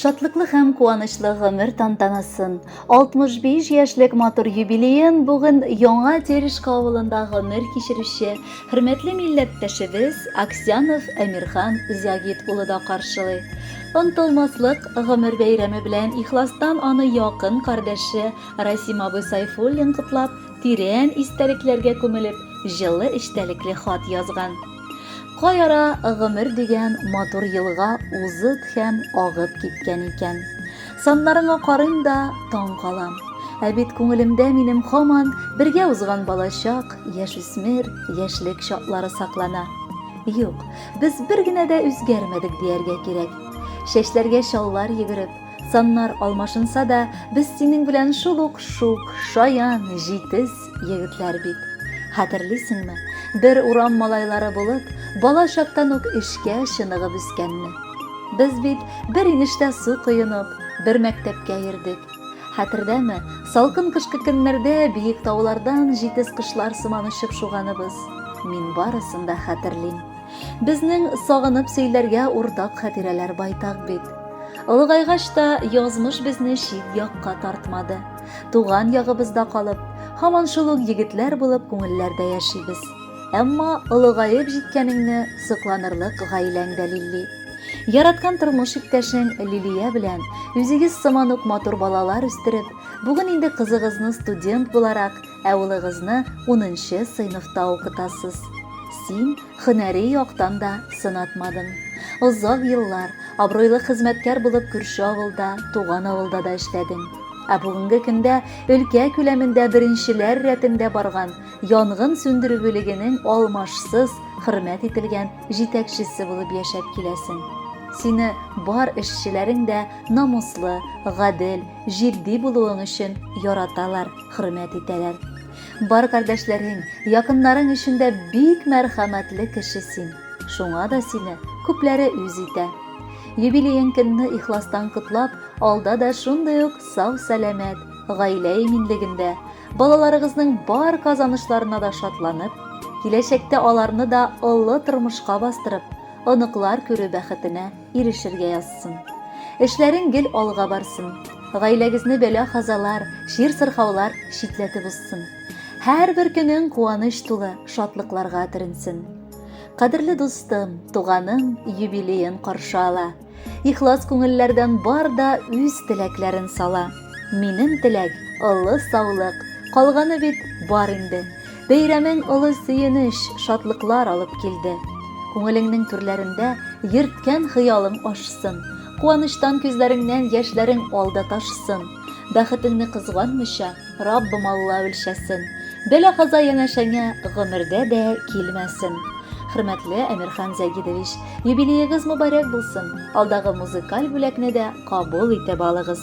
Шатлыклы һәм куанычлы гомер тантанасын, 65 яшьлек матур юбилеен бүген Яңа Терешка авылында гомер кичерүче хөрмәтле милләттәшебез Аксянов Әмирхан Зягит улы да каршылый. Онтылмаслык гомер бәйрәме белән ихластан аны якын кардәше Расим абый Сайфуллин котлап, тирән истәлекләргә күмелеп, җылы эчтәлекле хат язган. Кай ара гомер дигән матур елга узып һәм агып киткән икән. Саннарыңа карыйм да таң калам. Ә бит күңелемдә минем хаман бергә узган балачак, яшүсмер, яшьлек чаклары саклана. Юк, без бер генә дә үзгәрмәдек дияргә кирәк. Чәчләргә чаллар йөгереп, саннар алмашынса да, без синең белән шул ук шук, шаян, җитез, Егетләр бит. Хәтерлисеңме, бер урам малайлары булып, бала чактан ук эшкә чыныгып үскәнне. Без бит бер инештә су коенып, бер мәктәпкә йөрдек. Хәтердәме, салкын кышкы көннәрдә биек таулардан җитез кошлар сыман очып шуганыбыз. Мин барысын да хәтерлим. Безнең сагынып сөйләргә уртак хәтирәләр байтак бит. Олыгайгач та язмыш безне чит якка тартмады. Туган ягыбызда калып, һаман шул ук егетләр булып күңелләрдә яшибез. Әмма олыгаеп җиткәнеңне сокланырлык гаиләң дә лилли. Яраткан тормыш иптәшең Лилия белән үзегез сыман ук матур балалар үстереп, бүген инде кызыгызны студент буларак, ә улыгызны унынчы сыйныфта укытасыз. Син Һөнәри яктан да сынатмадың. Озак еллар абруйлы хезмәткәр булып күрше авылда, туган авылда да эшләдең. Ә бүгенге көндә өлкә күләмендә беренчеләр рәтендә барган янгын сүндерү бүлегенең алмашсыз хөрмәт ителгән җитәкчесе булып яшәп киләсең. Сине бар эшчеләрең дә намуслы, гадел, җитди булуың өчен яраталар, хөрмәт итәләр. Бар кардәшләрең, якыннарың өчен дә бик мәрхәмәтле кеше син. Шуңа да сине күпләре үз итә. Юбилеең көнне ихластан котлап, алда да шундый ук сау-сәламәт, гаилә иминлегендә, балаларыгызның бар казанышларына да шатланып, киләчәктә аларны да олы тормышка бастырып, оныклар күрү бәхетенә ирешергә язсын. Эшләрең гел алга барсын. Гаиләгезне бәла-казалар, чир-сырхаулар читләтеп узсын. Һәрбер көнең куаныч тулы шатлыкларга төренсен. Кадерле дустым, туганың юбилеен каршы ала. Ихлас күңелләрдән бар да үз теләкләрен сала. Минем теләк, олы саулык. Калганы бит бар инде. Бәйрәмең олы сөенеч, шатлыклар алып килде. Күңелеңнең түрләрендә йөрткән хыялың ашсын. Куаныштан күзләреңнән яшьләрең алда ташсын. Бәхетеңне кызганмыйча, Раббым Алла үлчәсен. Бәла-каза янәшәңә гомердә дә килмәсен. Хөрмәтле Әмирхан Зәйдидович, юбилеегыз мөбарәк булсын. Алдагы музыкаль бүләкне дә кабул итеп алыгыз.